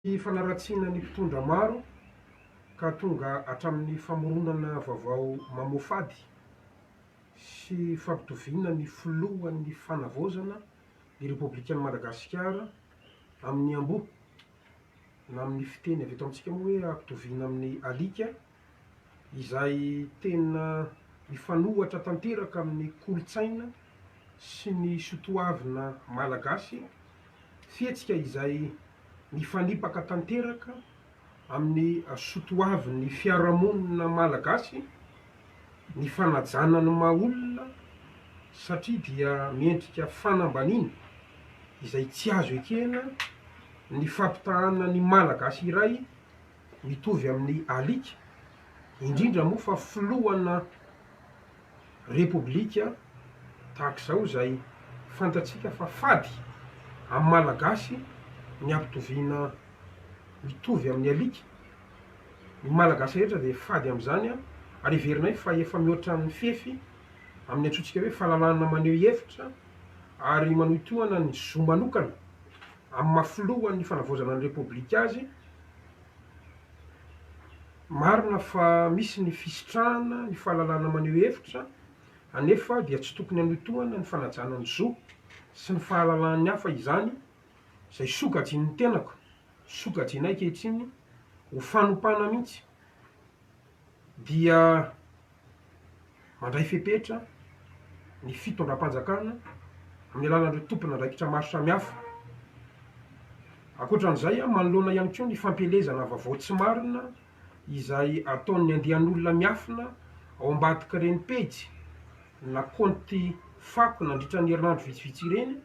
Ny fanaratsiana ny mpitondra maro ka tonga hatramin'ny famoronana vaovao mamoafady sy fampitoviana ny filohan'ny fanavaozana ny Repoblikan'i Madagasikara amin'ny amboa, na amin'ny fiteny avy eto amintsika moa hoe hampitoviana amin'ny alika, izay tena mifanohitra tanteraka amin'ny kolontsaina sy ny sotoavina malagasy, fihetsika izay mifanipaka tanteraka amin'ny sotoavin'ny fiarahamonina malagasy ny fanajana ny maha olona satria dia miendrika fanambaniana izay tsy azo ekena ny fampitahana ny malagasy iray mitovy amin'ny alika, indrindra moa fa filohana repoblika tahaka izao izay fantatsika fa fady amin'ny Malagasy ny ampitoviana mitovy amin'ny alika. Ny Malagasy rehetra dia fady amin'izany ary heverinay fa efa mihoatra ny fefy amin'ny antsointsika hoe fahalalahana maneho hevitra ary manohitohana ny zo manokana amin'ny maha filohan'ny fanavaozana ny repoblika azy Marina fa misy ny fisitrahana ny fahalalana maneho hevitra, anefa dia tsy tokony hanohitohana ny fanajana ny zo sy ny fahalalahan'ny hafa izany, izay sokajian'ny tenako, sokajiana ankehitriny ho fanompana mihitsy. dia mandray fepetra ny fitondram-panjakana amin'ny alalan'ireo tompon'andraikitra maro samihafa. Ankoatra an'izay, manoloana ihany koa ny fampielezana vaovao tsy marina izay ataon'ny andian'olona miafina ao ambadik'ireny pejy na kaonty fako nandritra ny herinandro vitsivitsy ireny,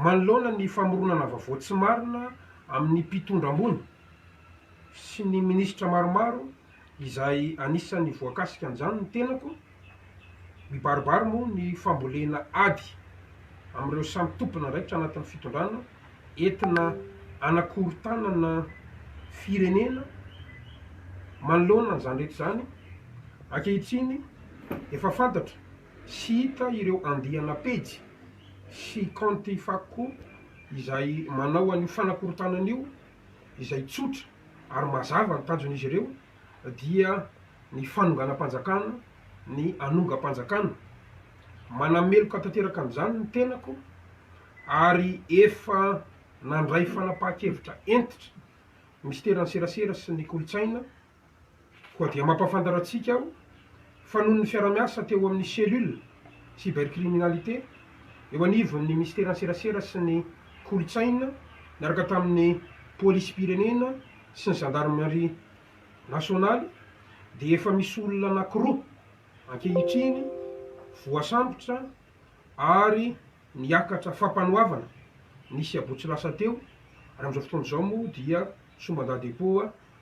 Manoloana ny famoronana vaovao tsy marina amin'ny mpitondra ambony sy ny minisitra maromaro izay anisan'ny voakasika an'izany ny tenako, mibaribary moa ny fambolena ady amin'ireo samy tompon'andraikitra anatin'ny fitondrana entina hanakorontanana firenena manoloana an'izany rehetra izany ankehitriny efa fantatra. Tsy hita ireo andiana pejy sy kaonty fako izay manao an'io fanakorontanana io izay tsotra ary mazava ny tanjon'izy ireo dia ny fanonganam-panjakana, ny hanongam-panjakana. Manameloka tanteraka amin'izany ny tenako ary efa nandray fanapahan-kevitra hentitra ny Minisiteran'ny Serasera sy ny Kolontsaina, Koa dia mampahafantatra antsika aho fa noho ny fiarahamiasa teo amin'ny Cellule Cybercriminalité eo anivon'ny Minisiteran'ny Serasera sy ny Kolontsaina niaraka tamin'ny Polisim-pirenena sy ny Zandarimaria Nasionaly dia efa misy olona anankiroa ankehitriny voasambotra ary niakatra fampanoavana ny sabotsy lasa teo ary amin'izao fotoana izao moa dia somban-dadepoa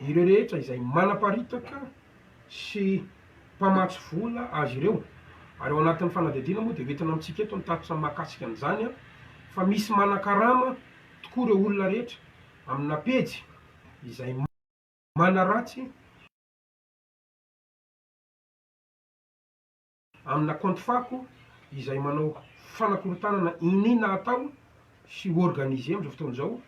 Ireo rehetra izay manaparitaka sy mpamatsy vola azy ireo, ary ao anatin'ny fanadihadiana moa dia ho entina amintsika eto ny tatitra mahakasika an'izany fa misy manakarama tokoa ireo olona rehetra amina pejy izay manaratsy Amina compte fako izay manao fanakorontanana iniana atao sy organiser amin'izao fotoana izao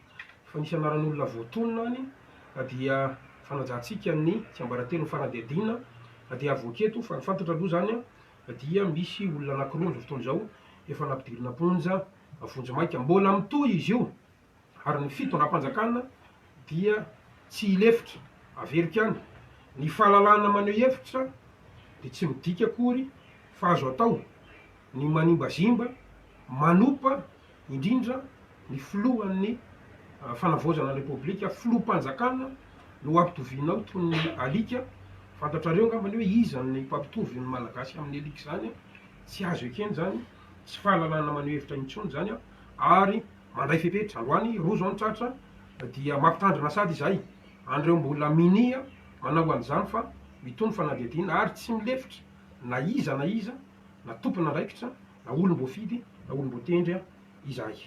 fa nisy anaran'olona voatonona any dia fanajantsika ny tsiambaratelon'ny fanadihadiana dia avoaka eto fa ny fantatra aloha izany dia misy olona anakiroa amin'izao fotoana izao efa nampidirina am-ponja vonjimaika. Mbola mitohy izy io. ary ny fitondram-panjakana dia tsy hilefitra, averiko any, ny fahalalahana maneho hevitra dia tsy midika akory fa azo atao ny manimbazimba manopa indrindra ny filohan'ny fanavaozana ny repoblika, filoham-panjakana no ampitovianao toy ny alika, fantatrareo angambany hoe iza ny mpampitovy ny malagasy amin'ny alika izany, tsy azo ekena izany, tsy fahalalahana maneho hevitra intsony izany ary. Mandray fepetra, androany roa zao ny tratra dia mampitandrina sady izahay an'ireo mbola minia manao an'izany fa itony fanadihadiana ary tsy milefitra na iza na iza na tompon'andraikitra na olom-boafidy na olom-boatendry izahay.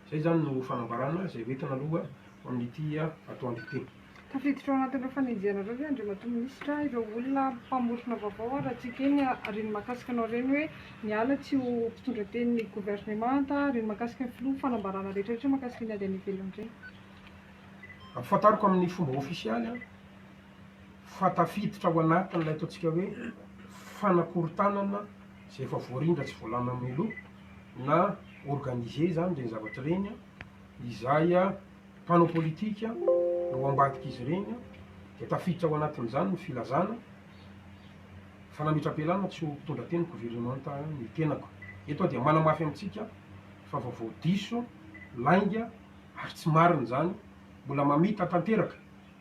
Izay izany no fanambarana izay hoentina aloha ho amin'ity atoandro ity. Tafiditra ao anatin'ireo fanenjehanareo ve Andriamatoa Minisitra ireo olona mpamorona vaovao ary raha tsy ekeny ny hareny mahakasika anao ireny hoe miala tsy ho mpitondra teny ny governemanta, hareny mahakasika ny Filoha, fanambarana rehetra rehetra mahakasika ny ady any ivelany ireny? Ampahafantariko amin'ny fomba ofisialy fa tafiditra ao anatin'ilay ataontsika hoe fanakorontanana izay efa voarindra tsy voalana mialoha na organiser izany ireny zavatra ireny izahay. mpanao politika no ao ambadik'izy ireny dia tafiditra ao anatin'izany ny filazana fa nametra-pialana tsy ho mpitondra teny governemanta ny tenako. Eto aho dia manamafy amintsika fa vaovao diso, lainga ary tsy marina izany, mbola mamita tanteraka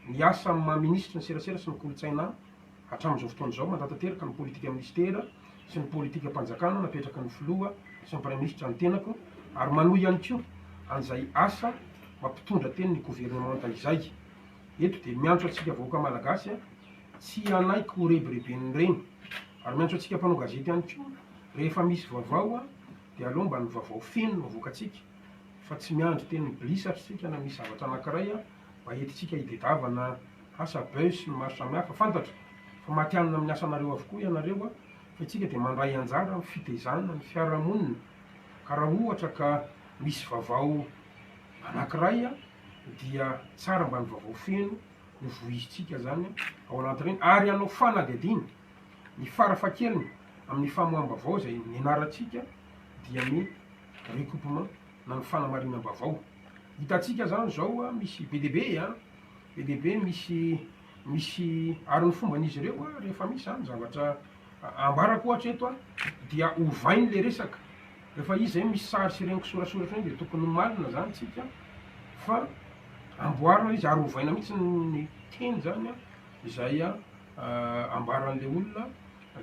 ny asa amin'ny maha minisitry ny serasera sy ny kolontsaina aho. Hatramin'izao fotoana izao, mandatanteraka ny politika minisitera sy ny politikam-panjakana napetraky ny filoha sy ny praiminisitra ny tenako ary manohy ihany koa an'izay asa mampitondra teny ny governemanta izay eto dia miantso antsika vahoaka malagasy tsy hanaiky ho rebireben'ireny ary miantso antsika mpanao gazety ihany koa rehefa misy vaovao dia aleo mba ny vaovao feno no avoakantsika fa tsy miandry teny bilisatra isika na misy zavatra anankiray mba entintsika hitedavana asa buzz sy ny maro samihafa, fantatro fa matihanina amin'ny asanareo avokoa ianareo fa itsika dia mandray anjara amin'ny fitezana ny fiarahamonina ka raha ohatra ka misy vavao anakiray dia tsara mba ny vavao feno no vohizintsika zany ao anatin'ireny ary hanao fanadihadiana ny fara fahakeliny amin'ny famoaham-bavao izay nianarantsika dia ny recoupement na ny fanamarinam-bavao, hitantsika zany zao misy be dia be an! Be dia be ny misy misy ary ny fomban'izy ireo rehefa misy izany zavatra ambarako ohatra eto an, dia ovainy ilay resaka, rehefa izy izay misy sary sy ireny kisorasoratra ireny dia tokony homarina izany isika fa amboarina ilay izy ary ovaina mihintsy ny teny izany an, izay ambaran'ilay olona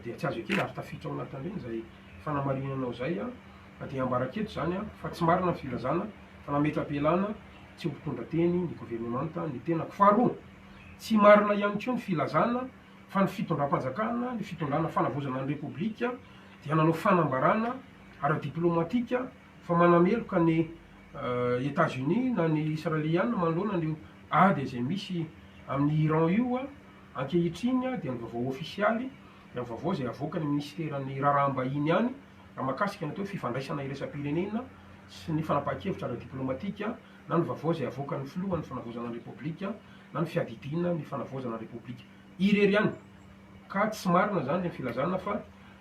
dia tsy azo ekena ary tafiditra ao anatin'ireny izay fanamarinanao izay an. Ka dia ambaraketo izany fa tsy marina ny filazana fa nametra-pialana tsy ho mpitondra teny ny governemanta ny tenako. Faharoa, tsy marina ihany koa ny filazana fa ny fitondram-panjakana, ny fitondrana fanavaozana ny Repoblika dia nanao fanambarana ara-diplaomatika fa manameloka an'i Etats-Unis na ny Israeliana manoloana an'io ady izay misy amin'i Iran io. Ankehitriny dia ny vaovao ofisialy dia ny vaovao izay avoakan'ny minisiteran'ny raharaham-bahiny ihany. Raha mahakasika ny atao hoe fifandraisana iraisam-pirenena sy ny fanapahan-kevitra ara-diplaomatika na ny vaovao izay avoakan' ny Filohan' ny Fanavaozana ny Repoblika na ny Fiadidiana ny Fanavaozana ny Repoblika irery ihany ka tsy marina izany ny filazana fa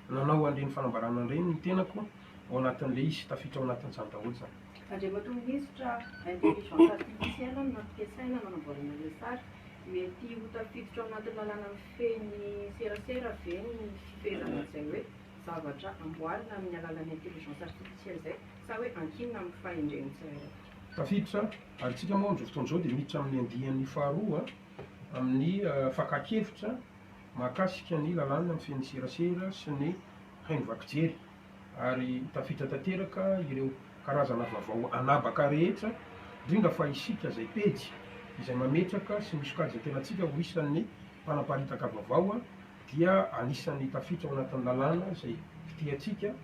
nanao an' ireny fanambarana ireny ny tenako ao anatin' ilay izy, tafiditra ao anatin' izany daholo izany. Andriamatoa Minisitra, intelligence artificielle no nampiasaina nanamboarana ilay sary. Mety ho tafiditra ao anatin'ny lalàna mifehy ny serasera ve ny fifehezana an'izay hoe. zavatra amboarina amin'ny alalan'ny intelligence artificielle izay sa hoe ankinina amin'ny fahendren'ny tsirairay? Tafiditra, ary isika moa amin'izao fotoana izao dia miditra amin'ny andiany faharoa amin'ny fakan-kevitra mahakasika ny lalàna mifehy ny serasera sy ny haino vaky jery, ary tafiditra tanteraka ireo karazana vavao anabaka rehetra, indrindra fa isika izay pejy izay mametraka sy misokajy ny tenantsika ho isan'ny mpanaparitaka vavao. dia anisan'ny tafita ao anatin'ny lalàna izay fitehantsika,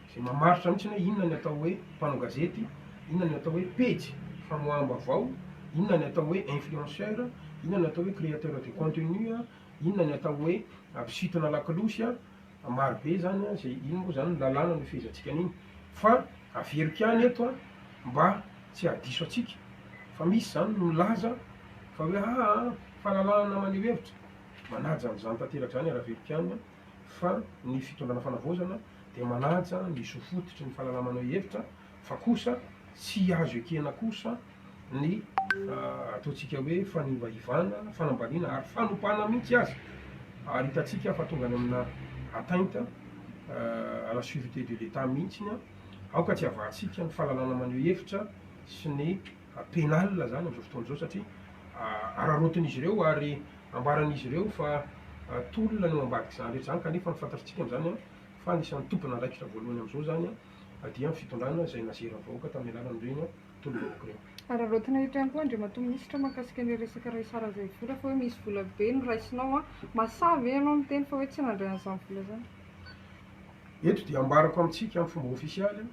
izay mamaritra mihitsy ny hoe inona ny atao hoe mpanao gazety, inona ny atao hoe pejy famoaham-baovao, inona ny atao hoe influenceur, inona ny atao hoe créateur de contenu, inona ny atao hoe mpisintona lakolosy, maro be izany izay, iny moa izany ny lalàna no ifehezantsika an'iny. Fa averiko ihany eto mba tsy hahadiso antsika fa misy izany milaza fa hoe aa fahalalahana maneho hevitra, Manaja an'izany tanteraka izany ara-velopianina fa ny fitondrana fanavaozana dia manaja ny zo fototry ny fahalala-maneho hevitra fa kosa tsy azo ekena kosa ny ataontsika hoe fanivaivana, fanambaniana ary fanopana mihitsy aza ary hitantsika fa tonga any amina atteinte à la surete de l'Etat mihitsy ny aoka tsy havahantsika ny fahalalana maneho hevitra sy ny penale izany amin'izao fotoana izao satria araraotin'izy ireo ary ambaran'izy ireo fa tolona ny eo ambadik'izany rehetra izany kanefa ny fantatritsika amin'izany fa anisan'ny tompon'andraikitra voalohany amin'izao izany dia ny fitondrana izay nazeran'ny vahoaka tamin'ny alalan'ireny tolom-bahoaka ireny. Araraotina eto ihany koa Andriamatoa Minisitra mahakasika an'ilay resaka Raisara Zaivola fa hoe misy vola be noraisinao an! Mahasahy ve ianao miteny fa hoe tsy nandray an'izany vola izany? Eto dia ambarako amintsika amin'ny fomba ofisialy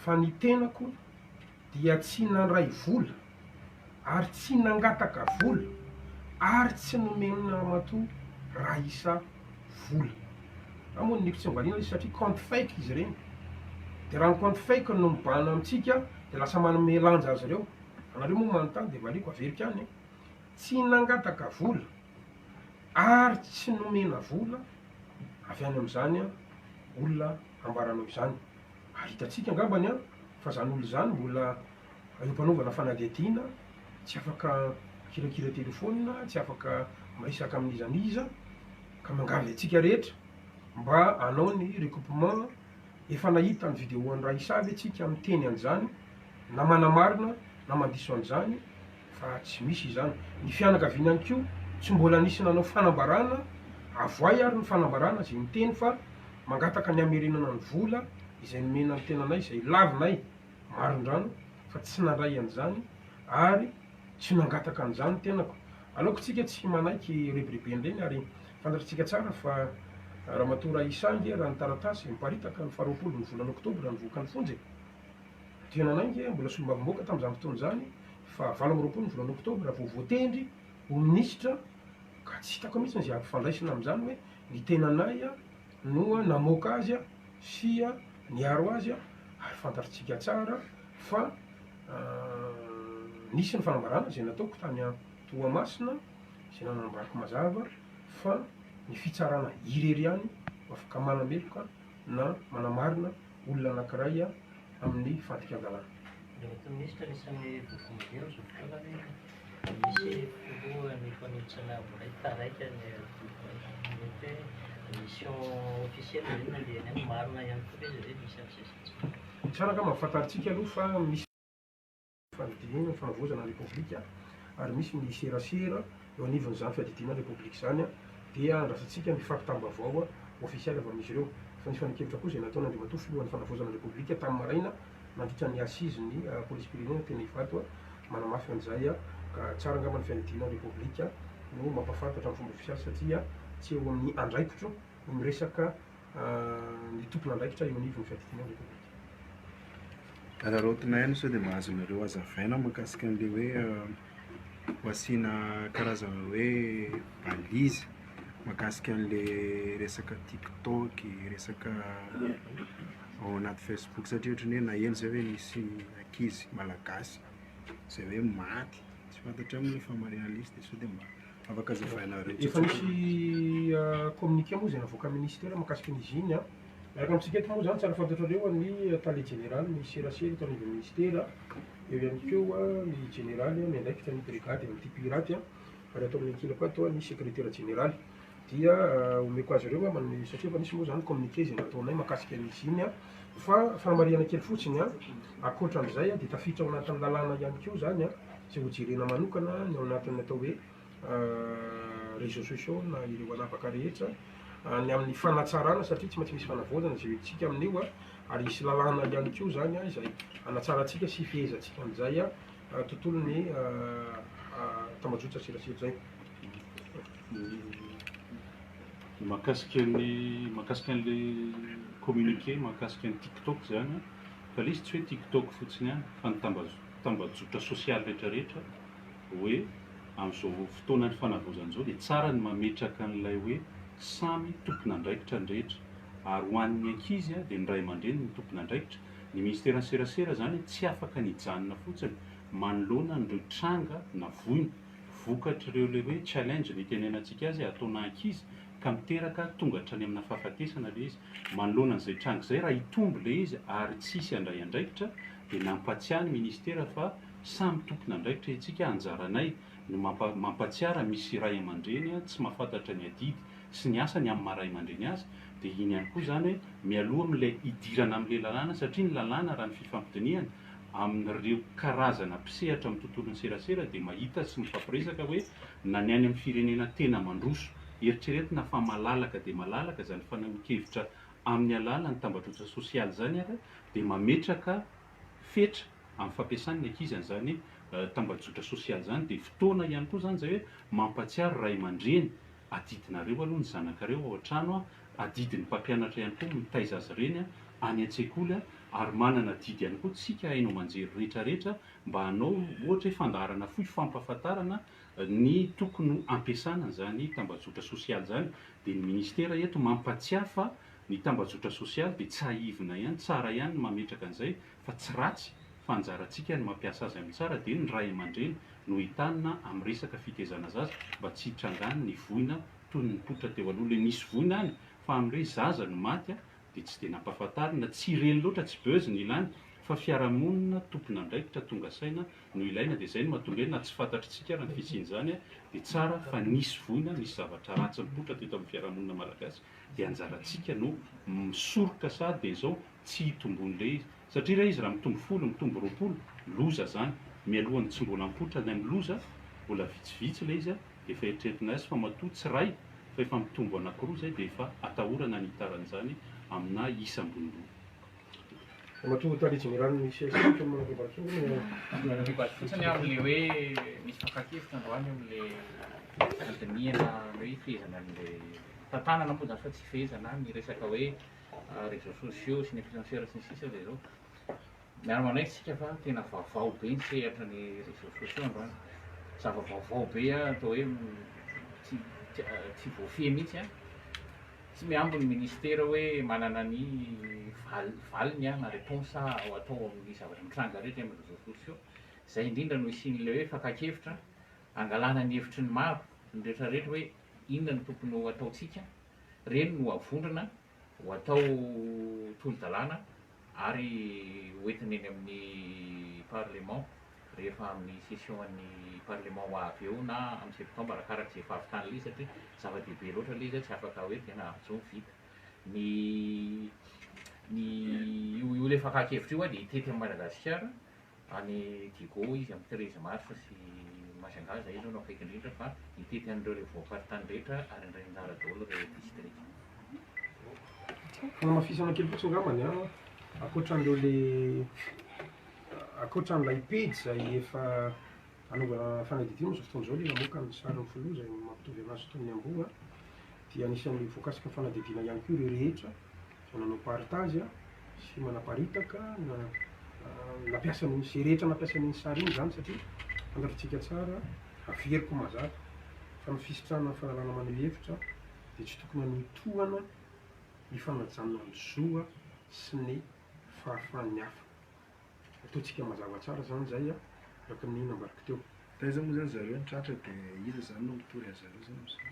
Fa ny tenako dia tsy nandray vola ary tsy nangataka vola ary tsy nomen'i Ramatoa Raissa vola. Na moa ny NIF tsy mivalina izy satria compte fake izy ireny. Dia raha ny compte fake no mibahana amintsika dia lasa manome lanja azy ireo. Anareo moa manontany dia valiako averiko ihany e. Tsy nangataka vola ary tsy nomena vola avy any amin'izany olona ambaranao izany. ary hitantsika angambany an, fa izany olona izany mbola eo am-panaovana fanadihadiana, tsy afaka mikirakira telefaonina, tsy afaka miresaka amin'iza n'iza, ka mangavy antsika rehetra mba hanao ny recoupement, efa nahita ny video an'i Raissa ve tsika miteny an'izany, na manamarina na mandiso an'izany, fa tsy misy izany. Ny fianakaviana ihany koa tsy mbola nisy nanao fanambarana, avoay ary ny fanambarana izay miteny fa mangataka ny hamerenana ny vola izay nomena ny tenanay izay lavinay marindrano fa tsy nandray an'izany ary tsy nangataka an'izany ny tenako. Aleoko tsika tsy manaiky rebirebeny ireny ary fantatritsika tsara fa Ramatoa Raissa ange raha ny taratasy miparitaka ny faharoapolo ny volana oktobra nivoaka ny fonja e! Dia nanainga aho mbola solombavambahoaka tamin'izany fotoana izany fa valo amby roapolo ny volana oktobra vao voatendry ho minisitra ka tsy hitako mihitsy izay ampifandraisina amin'izany hoe ny tenanay no namoaka azy sy niaro azy ary fantatrtsika tsara fa nisy ny fanambarana izay nataoko tany Toamasina izay nanambarako mazava fa ny fitsarana irery ihany no afaka manameloka na manamarina olona anankiray amin'ny fadikan-dalàna. Ireto minisitra anisan'ny voatonon'izay amin'izao fotoana hoe misy filohan'ny fanitsana voaray taraiky ny Adoboka. Mety hoe mission officielle ve no nandehany any? Marina ihany koa ve izay hoe misy an'izay sy tsy misy? Tsara angamba fantarintsika aloha fa misy. Fandidiana ny fahavozana ny Repoblika ary misy ny serasera eo anivon'izany fiadidiana ny Repoblika izany dia andrasantsika ny fampitam-baovao ofisialy avy amin'izy ireo. Fanifanin-kevitra koa izay nataon'Andriamatoa Filohan'ny Fanavaozana ny Repoblika tamin'ny maraina nandritra ny Assises ny Polisim-pirenena teny Ivato manamafy an'izay ka tsara angamba ny fiadidiana ny Repoblika no mampahafantatra amin'ny fomba ofisialy satria tsy eo amin'ny andraikitro ho miresaka ny tompon'andraikitra eo anivon'ny fiadidiana ny Repoblika. Araraotina ihany sao dia mba azonareo hazavaina mahakasika an'ilay hoe ho asiana karazana hoe balise mahakasika an'ilay resaka tiktok, resaka ao anaty facebook satria ohatran'ny hoe naheno izay hoe nisy ankizy malagasy izay hoe maty, tsy fantatrao moa ilay fahamarian'ilay izy dia sao dia mba. Afaka jifaina reo tsotsotra. Efa misy communiqué moa izay navoakan'ny minisitera mahakasika ny iziny. Araka amintsika eto moa izany tsara fantatrareo ny tale jeneraly ny serasera eto anivon'ny minisitera, eo ihany koa ny jeneraly miandraikitra ny brigady amin'ity piraty ary ato amin'ny ankilako ato ny sekretera jeneraly. Dia omeko azy ireo angamba ny satria efa nisy moa izany communiqué izay nataonay mahakasika ny iziny. Fa fanamarihana kely fotsiny, ankoatra an'izay dia tafiditra ao anatin'ny lalàna ihany koa izany. Tsy hojerena manokana ny ao anatin'ny atao hoe réseaux sociaux na ireo anapaka rehetra ny amin'ny fanatsarana satria tsy maintsy misy fanavaozana izay hoentintsika amin'io ary hisy lalàna ihany koa izany izay hanatsarantsika sy hifehezantsika an'izay tontolon'ny tambajotran-tserasera izay. Dia mahakasika ny mahakasika an'ilay communiqué mahakasika ny TikTok izany an, fa ilay izy tsy hoe TikTok fotsiny ihany fa ny tambazotra. tambajotra sosialy rehetra rehetra hoe amin'izao fotoanan'ny fanavaozana izao dia tsara ny mametraka an'ilay hoe samy tompon'andraikitra ny rehetra ary ho an'ny ankizy dia ny ray aman-dreny no tompon'andraikitra. Ny ministeran'ny serasera izany tsy afaka ny hijanona fotsiny manoloana an'ireo tranga na voina vokatr'ireo ilay hoe challenge no itenenantsika azy ataona ankizy ka miteraka tonga hatrany amina fahafatesana ilay izy. Manoloana an'izay tranga izay raha hitombo ilay izy ary tsy hisy handray andraikitra dia nampatsiahy ny ministera fa samy tompon'andraikitra isika, anjaranay no mampatsiara misy ray aman-dreny tsy mahafantatra ny adidy sy ny asany amin'ny maha ray aman-dreny azy, dia iny ihany koa izany hoe mialoha amin'ilay hidirana amin'ilay lalàna satria ny lalàna raha ny fifampidinihana amin'ireo karazana mpisehatra amin'ny tontolon'ny serasera dia mahita sy mifampiresaka hoe na ny any amin'ny firenena tena mandroso, eritreretina fa malalaka dia malalaka izany fanehoan-kevitra amin'ny alalan'ny tambajotra sosialy izany ary dia mametraka fetra amin'ny fampiasany ny ankizy an'izany tambajotra sosialy izany dia fotoana ihany koa izany izay hoe mampatsiaro ray aman-dreny adidinareo aloha ny zanakareo ao an-trano adidy ny mpampianatra ihany koa mitaiza azy ireny any an-tsekoly ary manana adidy ihany koa tsika haino aman-jery rehetra rehetra mba hanao ohatra hoe fandaharana fohy fampahafantarana ny tokony hampiasana an'izany tambajotra sosialy izany Dia ny ministera eto mampatsiahy fa ny tambajotra sosialy dia tsahivina ihany, tsara ihany ny mametraka an'izay fa tsy ratsy fa anjarantsika ny mampiasa azy amin'ny tsara dia ny ray aman-dreny no entanina amin'ny resaka fitezana zaza mba tsy hitrangan ny voina toy ny nipoitra teo aloha ilay nisy voina any fa amin'irey zaza no maty dia tsy dia nampahafantarina, tsy ireny loatra, tsy buzz no ilàny fa fiarahamonina tompon'andraikitra tonga saina no ilaina dia izay no mahatonga hoe na tsy fantatr'itsika ary ny fisian'izany dia tsara fa nisy voina, nisy zavatra ratsy nipoitra teto amin'ny fiarahamonina malagasy dia anjarantsika no misoroka sahady dia izao tsy hitomboan'ilay izy. satria ilay izy raha mitombo folo, mitombo roapolo, loza zany, mialohan'ny tsy mbola mipoitra ilay miloza, mbola vitsivitsy ilay izy dia efa eritreretina as fa matoa tsy iray fa efa mitombo anankiroa izay dia efa atahorana ny hitarany izany amina isa ambony ambony. Ramatoa Tale Jeneraly ny CSC kely manao rebary kely ny an. Rebary fotsiny aho amin'ilay hoe misy fakan-kevitra androany amin'ilay fandinihana na hoe fehezana an'ilay tantanana moa izany fa tsy fehezana ny resaka hoe réseaux sociaux sy ny influenceurs sy ny sisa dia izao, miara manaiky isika fa tena vaovao be ny sehatra ny réseaux sociaux androany. Zava-baovao be atao hoe tsy tsy tsy voafehy mihitsy an. Tsy mihambo ny ministera hoe manana ny val- valiny na réponse ho atao amin'ny zavatra mitranga rehetra eny amin'ny réseaux sociaux. Izay indrindra no isian'ilay hoe fakan-kevitra hangalana ny hevitry ny maro, ny rehetrarehetra hoe inona no tokony ho ataontsika. reny no avondrona ho atao tolo-dalàna ary ho entina eny amin'ny Parlement rehefa amin'ny session an'ny Parlement ho avy eo na amin'ny septembre arakaraka izay fahavitan'ilay izy satria zava-dehibe loatra ilay izy hoe tsy afaka hoe dia nahazo ny vita. Ny ny io io ilay fakan-kevitra io dia hitety an'i Madagasikara. Any Digo izy amin'ny treize mars sy Majunga izay izao no akaiky indrindra fa mitety an'ireo ireo voafaritany rehetra ary indray anjara daholo ireo distrika. Fanamafisana kely fotsiny ngambany an, ankoatra an'ireo le ankoatra an'ilay pejy izay efa anaovana fanadihadiana amin'izao fotoana izao ilay namoaka ny sarin'ny filoha izay mampitovy an'azy tamin'ny amboa dia anisan'ny voakasika fanadihadiana ihany koa ireo rehetra izay nanao partage a, sy manaparitaka na nampiasa an'iny, izay rehetra nampiasa an'iny sary iny izany satria fantatritsika tsara, averiko mazava, fa ny fisitrahana ny fanalana maneho hevitra dia tsy tokony hanotohana ny fanajana ny zo a sy ny fahafahan'ny hafa. Ataontsika mazava tsara izany izay a, araka ny nambariko teo. Taiza moa izany zareo no tratra dia iza izany no mitory anzareo izany amin'izao?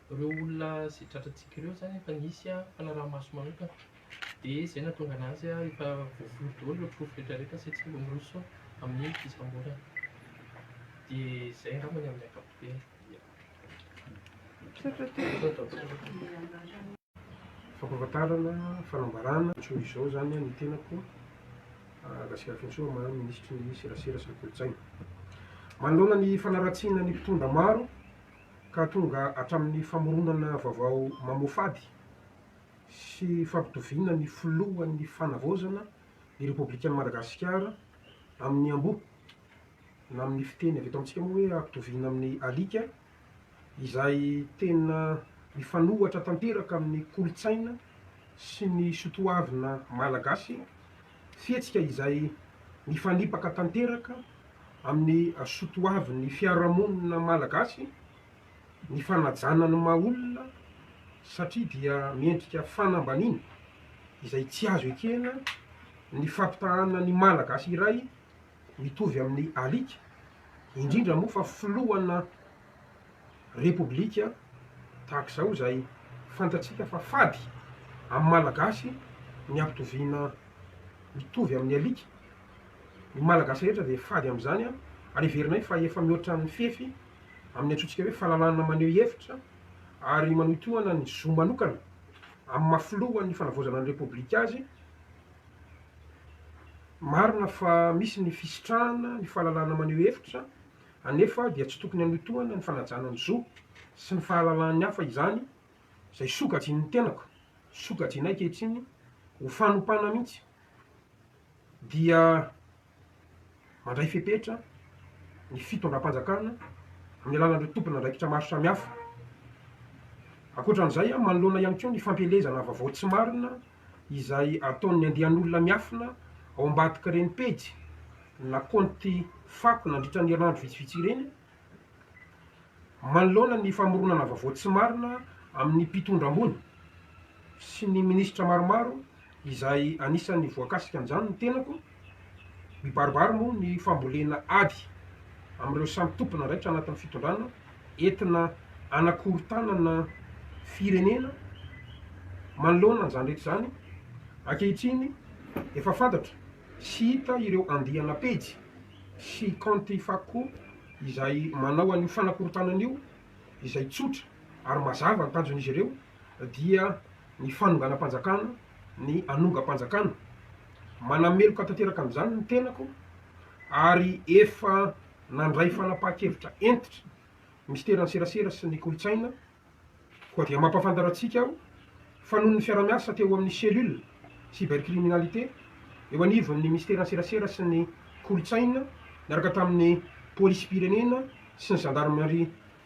Ireo olona izay tratrantsika ireo izany efa nisy fanaraha-maso manokana, dia izay no nahatonga an'azy efa voafono daholo ireo porofo rehetrarehetra sy tsy mba miroso amin'ny fisamborana. Dia izay angamba ny amin'ny ankapobeny. Misaotra tompoko. Fampahafantarana, fanambarana, Antsoy izao izany ny tenako, Rasirafintsoa Maha Minisitry ny Serasera sy ny Kolontsaina. Manoloana ny fanaratsiana ny mpitondra maro, ka tonga hatramin'ny famoronana vaovao mamoafady sy fampitoviana ny filohan'ny fanavaozana ny Repoblikan'i Madagasikara amin'ny amboa, na amin'ny fiteny avy eto amintsika moa hoe ampitoviana amin'ny alika, izay tena mifanohitra tanteraka amin'ny kolontsaina sy ny sotoavina malagasy. Fihetsika izay mifanipaka tanteraka amin'ny soatoavin'ny fiarahamonina malagasy ny fanajana ny maha olona satria dia miendrika fanambaniana izay tsy azo ekena ny fampitahana ny malagasy iray mitovy amin'ny alika, indrindra moa fa filohana Repoblika tahaka izao izay fantatsika fa fady amin'ny Malagasy ny ampitoviana mitovy amin'ny alika. Ny Malagasy rehetra dia fady amin'izany ary heverinay fa efa mihoatra ny fefy amin'ny antsointsika hoe fahalalahana maneho hevitra ary manohy tohana ny zo manokana amin'ny maha filohan'ny fanavaozana ny Repoblika azy. Marina fa misy ny fisitrahana ny fahalalahana maneho hevitra Anefa dia tsy tokony hanohitohana ny fanajana ny zo sy ny fahalalan'ny hafa izany izay sokajian'ny tenako, sokajianay ankehitriny ho fanompana mihitsy dia mandray fepetra ny fitondram-panjakana amin'ny alalan'ireo tompon'andraikitra maro samihafa. Ankoatra an'izay, manoloana ihany koa ny fampielezana vaovao tsy marina izay ataon'ny andian'olona miafina ao ambadik'ireny pejy na kaonty fako nandritra ny herinandro vitsivitsy ireny, manoloana ny famoronana vaovao tsy marina amin'ny mpitondra ambony sy ny minisitra maromaro izay anisan'ny voakasika an'izany ny tenako. Mibaribary moa ny fambolena ady amin'ireo samy tompon'andraikitra anatin'ny fitondrana entina hanakorontanana firenena. Manoloana an'izany rehetra izany, ankehitriny efa fantatra sy hita ireo andiana pejy sy kaonty fakko izay manao an'io fanakorontanana io izay tsotra ary mazava ny tanjon'izy ireo, dia ny fanonganam-panjakana, ny hanongam-panjakana. Manameloka tanteraka an'izany ny tenako ary efa nandray fanapahan-kevitra hentitra Minisiteran'ny Serasera sy ny Kolontsaina. Koa dia mampahafantatra antsika aho fa noho ny fiara-miasa teo amin'ny Cellule Cybercriminalité eo anivon'ny Minisiteran'ny Serasera sy ny Kolontsaina niaraka tamin'ny Polisim-pirenena sy ny Zandarimaria,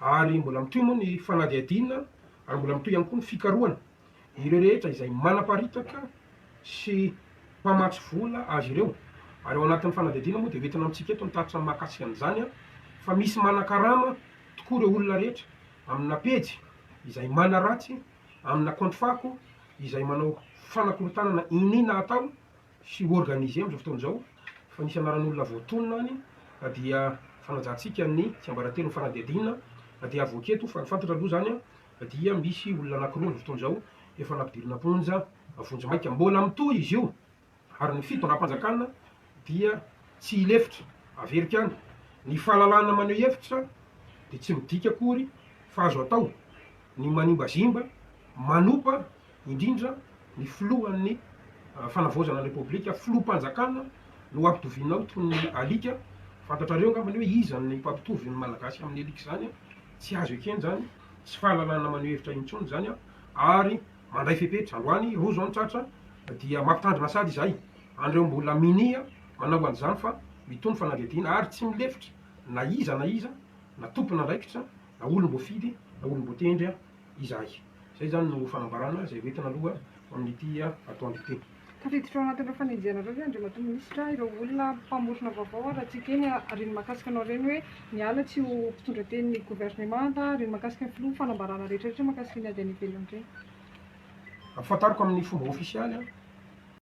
ary mbola mitohy moa ny fanadihadiana ary mbola mitohy ihany koa ny fikarohana ireo rehetra izay manaparitaka sy mpamatsy vola azy ireo ary ao anatin'ny fanadihadiana moa dia ho entina amintsika eto ny tatitra mahakasika an'izany fa misy manakarama tokoa ireo olona rehetra amina pejy izay manaratsy amina kaonty fako izay manao fanakorontanana iniana atao sy organiser amin'izao fotoana izao fa nisy anaran'olona voatonona any dia fanajantsika ny tsiambaratelo ny fanadihadiana dia avoaka eto fa ny fantatra aloha izany dia misy olona anakiroa amin'izao fotoana izao efa nampidirina am-ponja vonjimaika mbola mitohy izy io ary ny fitondram-panjakana dia tsy hilefitra averika any ny fahalalahana maneho hevitra dia tsy midika akory fa azo atao ny manimbazimba manopa indrindra ny filohan'ny Fanavaozana ny Repoblika, filoham-panjakana no ampitoviana ao toy ny alika, fantatrareo angambany hoe iza ny mpampitovy ny Malagasy amin'ny alika izany an! tsy azo ekena izany, tsy fahalalana maneho hevitra intsony izany an! ary mandray fepetra, androany roa izao ny tratra dia mampitandrina sady izahay an'ireo mbola minia manao an'izany fa mitohy ny fanadihadiana ary tsy milefitra na iza na iza na tompon'andraikitra na olom-boafidy na olom-boatendry izahay. Izay izany no fanambarana izay ho entina aloha amin'ity atoandro ity. Tafiditra ao anatin'ireo fanenjehanareo ve Andriamatoa Minisitra ireo olona mpamorona vaovao ary raha tsy ekeny ary ny mahakasika anao ireny hoe miala tsy ho mpitondra tenin'ny Governemanta ary ny mahakasika ny Filoha fanambarana rehetra rehetra mahakasika ny ady any ivelany ireny? Ampahafantariko amin'ny fomba ofisialy an!